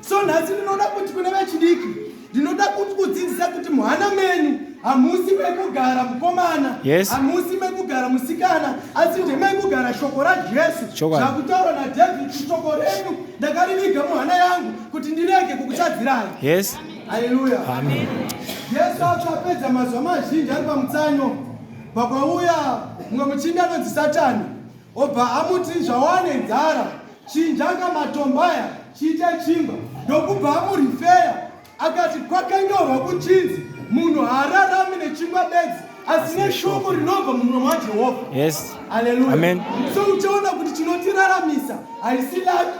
so nhasi ndinoda kuti kune vechidiki ndinoda kuti kudzidzisa kuti muhana menyu hamusi mekugara mukomana hamusi yes. mekugara musikana asi ndemekugara shoko rajesu zvakutaurwa nadhavhidi shoko renyu ndakariviga muhana yangu kuti ndirege kukutadzirai yes. haleluya jesu acho apedza mazuva mazhinji ari pamutsanyo pakwauya mumwe muchinda anonzi satani Obva amuti zvawane nzara chinjanga matombaya chiite chingwa ndokubva amurifeya akati kwakanyorwa kuchinzi munhu haararami nechingwa bedzi asi neshoko rinobva mumwe mwajehovha yes. aleluya so uchaona kuti chinotiraramisa haisi laki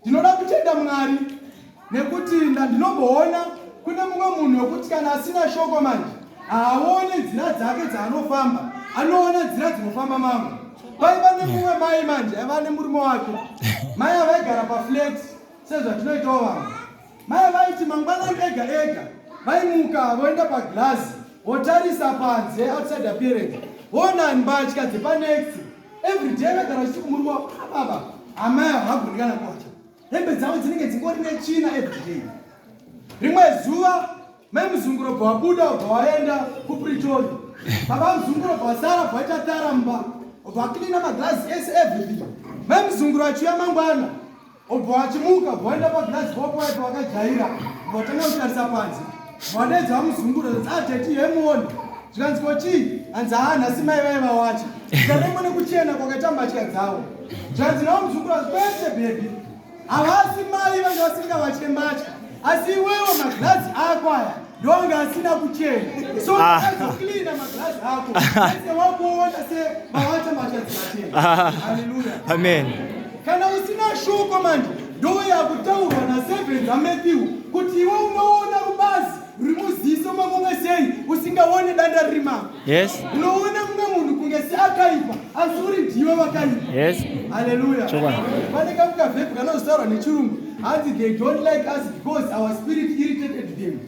Ndinoda kutenda Mwari nekuti ndandinogoona kune mumwe munhu wekuti kana asina shoko manje haaone nzira dzake dzaanofamba anoona nzira dzinofamba mamwe vaiva nemumwe mai manje aiva nemurume wake mai avaigara paflet sezvatinoitawo vamwe Mai vaiti mangwanani ega ega vaimuka voenda paglazi votarisa panze outside appearance voona mbatya dzepanext everyday vagara vachiti kumuriwa baba amai havagoni kana kwacha hembe dzavo dzinenge dzingori netsvina everyday rimwe zuva mai muzunguro bva wabuda ubva waenda kupritori baba muzunguro bva wasara bva waita taramba ubva waklina maglazi ese everything mai muzunguro achiuya mangwana Obva wachimuka bwaenda pagirazi kwako waiva wakajaira watanga kutarisa panze mwadedza wamuzungura ateti ah, hemuoni zvikanzi ko chii hanzi haa nhasi mai vai vawacha zvikanengwa nekuchena kwakaita mbatya dzavo zvanzi nawo muzungura kwese bhebhi havasi mai vanga vasingavatye mbatya Asi iwewe maglazi ako aya ndonga asina kuchena so ah. azoklina maglazi ako ese wakuona se mawata machadzikachena ah. haleluya amen kana usina shoko manje ndoyakutaurwa naseven zamatthew kuti iwe unoona rubazi ruri muziso makunge sei usingaone danda riri mako Yes. Unoona mumwe munhu kunge seakaipa asi uri ndiwe wakaipa. Yes. Hallelujah. Chokwadi. Pane kamuka vepi kanozotaurwa nechirungu hanzi they don't like us because our spirit irritated them.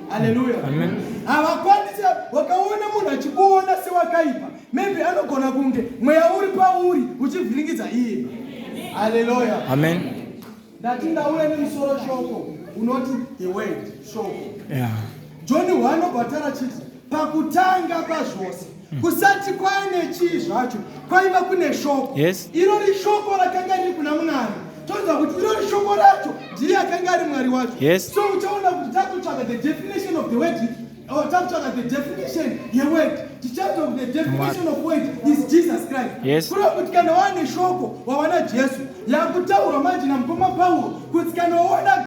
Hallelujah. Amen. Havakwanisi wakaona munhu achikuona sewakaipa. Maybe anogona kunge mweya uri pauri uchivhiringidza iye. Hallelujah. Amen. Ndati ndauya nemusoro shoko unoti the word shoko. Yeah. John wanobva tarachiti pakutanga pazvose hmm. kusati kwaine chii zvacho kwaiva kune shoko yes. irori shoko rakanga riri kuna munani toziva kuti irori shoko racho ndiye akanga ari mwari wacho yes. so uchaona kuti tatotsvaga the definition of the word Oh, takutsvaga the definition yeword tichaita kuti the definition of word is jesus christ yes. kureva kuti kana waane shoko wawana jesu yaakutaurwa manje namukoma pauro kuti kana waona